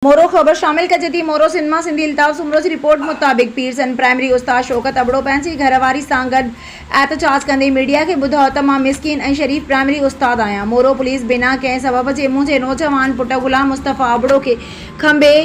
مورو، خبر شامل ڪجي ٿي، مورو سنيما سنڌي الطاف سومرو جي رپورٽ مطابق پيرسن پرائمري استاد شوڪت ابڙو پنهنجي گهر واري سان گڏ احتجاج ڪندي ميڊيا کي ٻڌايو ته مان مسڪين ۽ شريف پرائمري استاد آهيان مورو پوليس بنا ڪنهن سبب جي منهنجي نوجوان پٽ غلام مصطفيٰ ابڙو کي کنڀي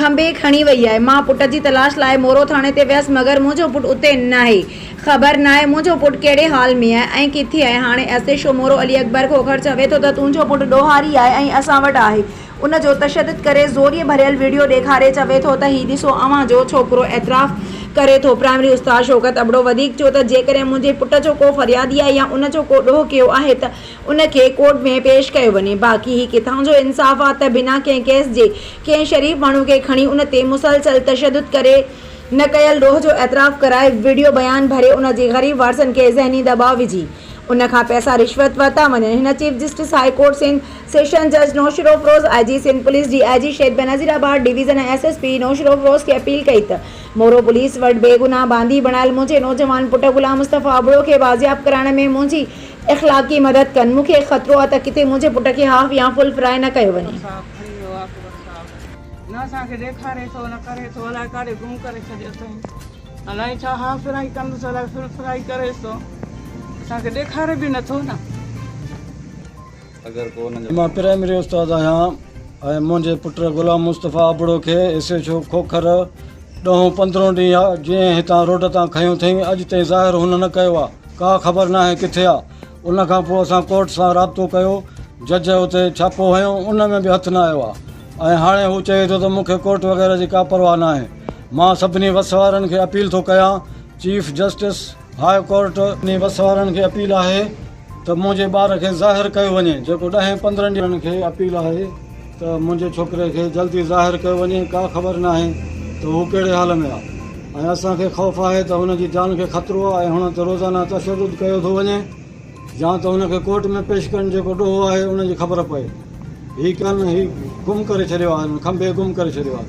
کنڀي کڻي وئي آهي مان پٽ جي تلاش لاء مورو ٿاڻي تي ويس مگر منهنجو پٽ اتي ناهي خبر ناهي منهنجو پٽ ڪهڙي حال ۾ آهي ۽ ڪٿي آهي. هاڻي اسي شو مورو علي اڪبر کوکر چوي ٿو ته تنهنجو پٽ ڏوهاري آهي ۽ اسان وٽ آهي. ان جو تشدد ڪري زوريء ڀريل وڊيو ڏيکاري چوي ٿو ته هي ڏسو اوهان جو ڇوڪرو اعتراف ڪري ٿو. پرائمري استاد شوڪت ابڙو وڌيڪ چيو ته جيڪڏهن منهنجي پٽ جو ڪو فريادي آهي يا ان جو ڪو ڏوهه ڪيو آهي ته ان کي ڪورٽ ۾ پيش ڪيو وڃي باقي هي ڪٿان جو انصاف آهي ته بنا ڪنهن ڪيس جي ڪنهن شريف ماڻهو کي کڻي ان تي مسلسل تشدد ڪري نه ڪيل ڏوهه جو اعتراف ڪرائي وڊيو بيان ڀري ان جي غريب وارثن کي ذهني دٻاء وجهي ان کان پئسا رشوت ورتا وڃن هن chief justice high court Sindh, session جج Naushahro Feroze, I G Sindh police, D I G Shaheed Benazirabad division ۽ S S P Naushahro Feroze کي اپيل ڪئي ته مورو پوليس وٽ بيگناهه باندي بڻايل منهنجي نوجوان پٽ غلام مصطفيٰ ابڙو کي بازياب ڪرائڻ ۾ منهنجي اخلاقي مدد ڪن مون کي خطرو آ ته ڪٿي منهنجي پٽ کي هاف يا فل فرائي نه ڪيو وڃي. نه اسان کي ڏيکاري ٿو نه ڪري ٿو الائي ڪاڏي گم ڪري ڇڏيو اٿئي الائي ڇا ها ڦرائي ڪندس الائي ڦر ڦرائي ڪريس ٿو اسان کي ڏيکاري به نٿو نه اگر ڪو نه مان پرائمري استاد آهيان ۽ منهنجي پٽ غلام مصطفي ابڙو کي ايس ايڇ او کوکر ڏهون پندرهون ڏينهن آ جئين هتان روڊ تان کنيو ٿئين اڄ تائين ظاهر هن نه ڪيو آ ڪا خبر ناهي ڪٿي آ ان کان پوء اسان ڪورٽ سان رابطو ڪيو، جج اتي ڇاپو هنيو، ان ۾ به هٿ نه آيو آهي ۽ هاڻي هو چئي ٿو ته مون کي ڪورٽ وغيره جي ڪا پرواهه ناهي. مان سڀني وس وارن کي اپيل ٿو ڪيان، چيف جسٽس هاء ڪورٽ، سڀني وس وارن کي اپيل آهي ته منهنجي ٻار کي ظاهر ڪيو وڃي جيڪو ڏهين پندرهن ڏينهن کي اپيل آهي. ته منهنجي ڇوڪري کي جلدي ظاهر ڪيو وڃي، ڪا خبر ناهي ته هو ڪهڙي حال ۾ آهي ۽ اسان کي خوف آهي ته هن جي جان کي خطرو آهي ۽ هن تي روزانه تشدد ڪيو ٿو وڃي يا ته هن کي ڪورٽ ۾ پيش ڪن جيڪو ڏوهه آهي ان جي خبر پئي هي ڪن هي گم ڪري ڇڏيو آهي هن کنڀي گم ڪري ڇڏيو آهي.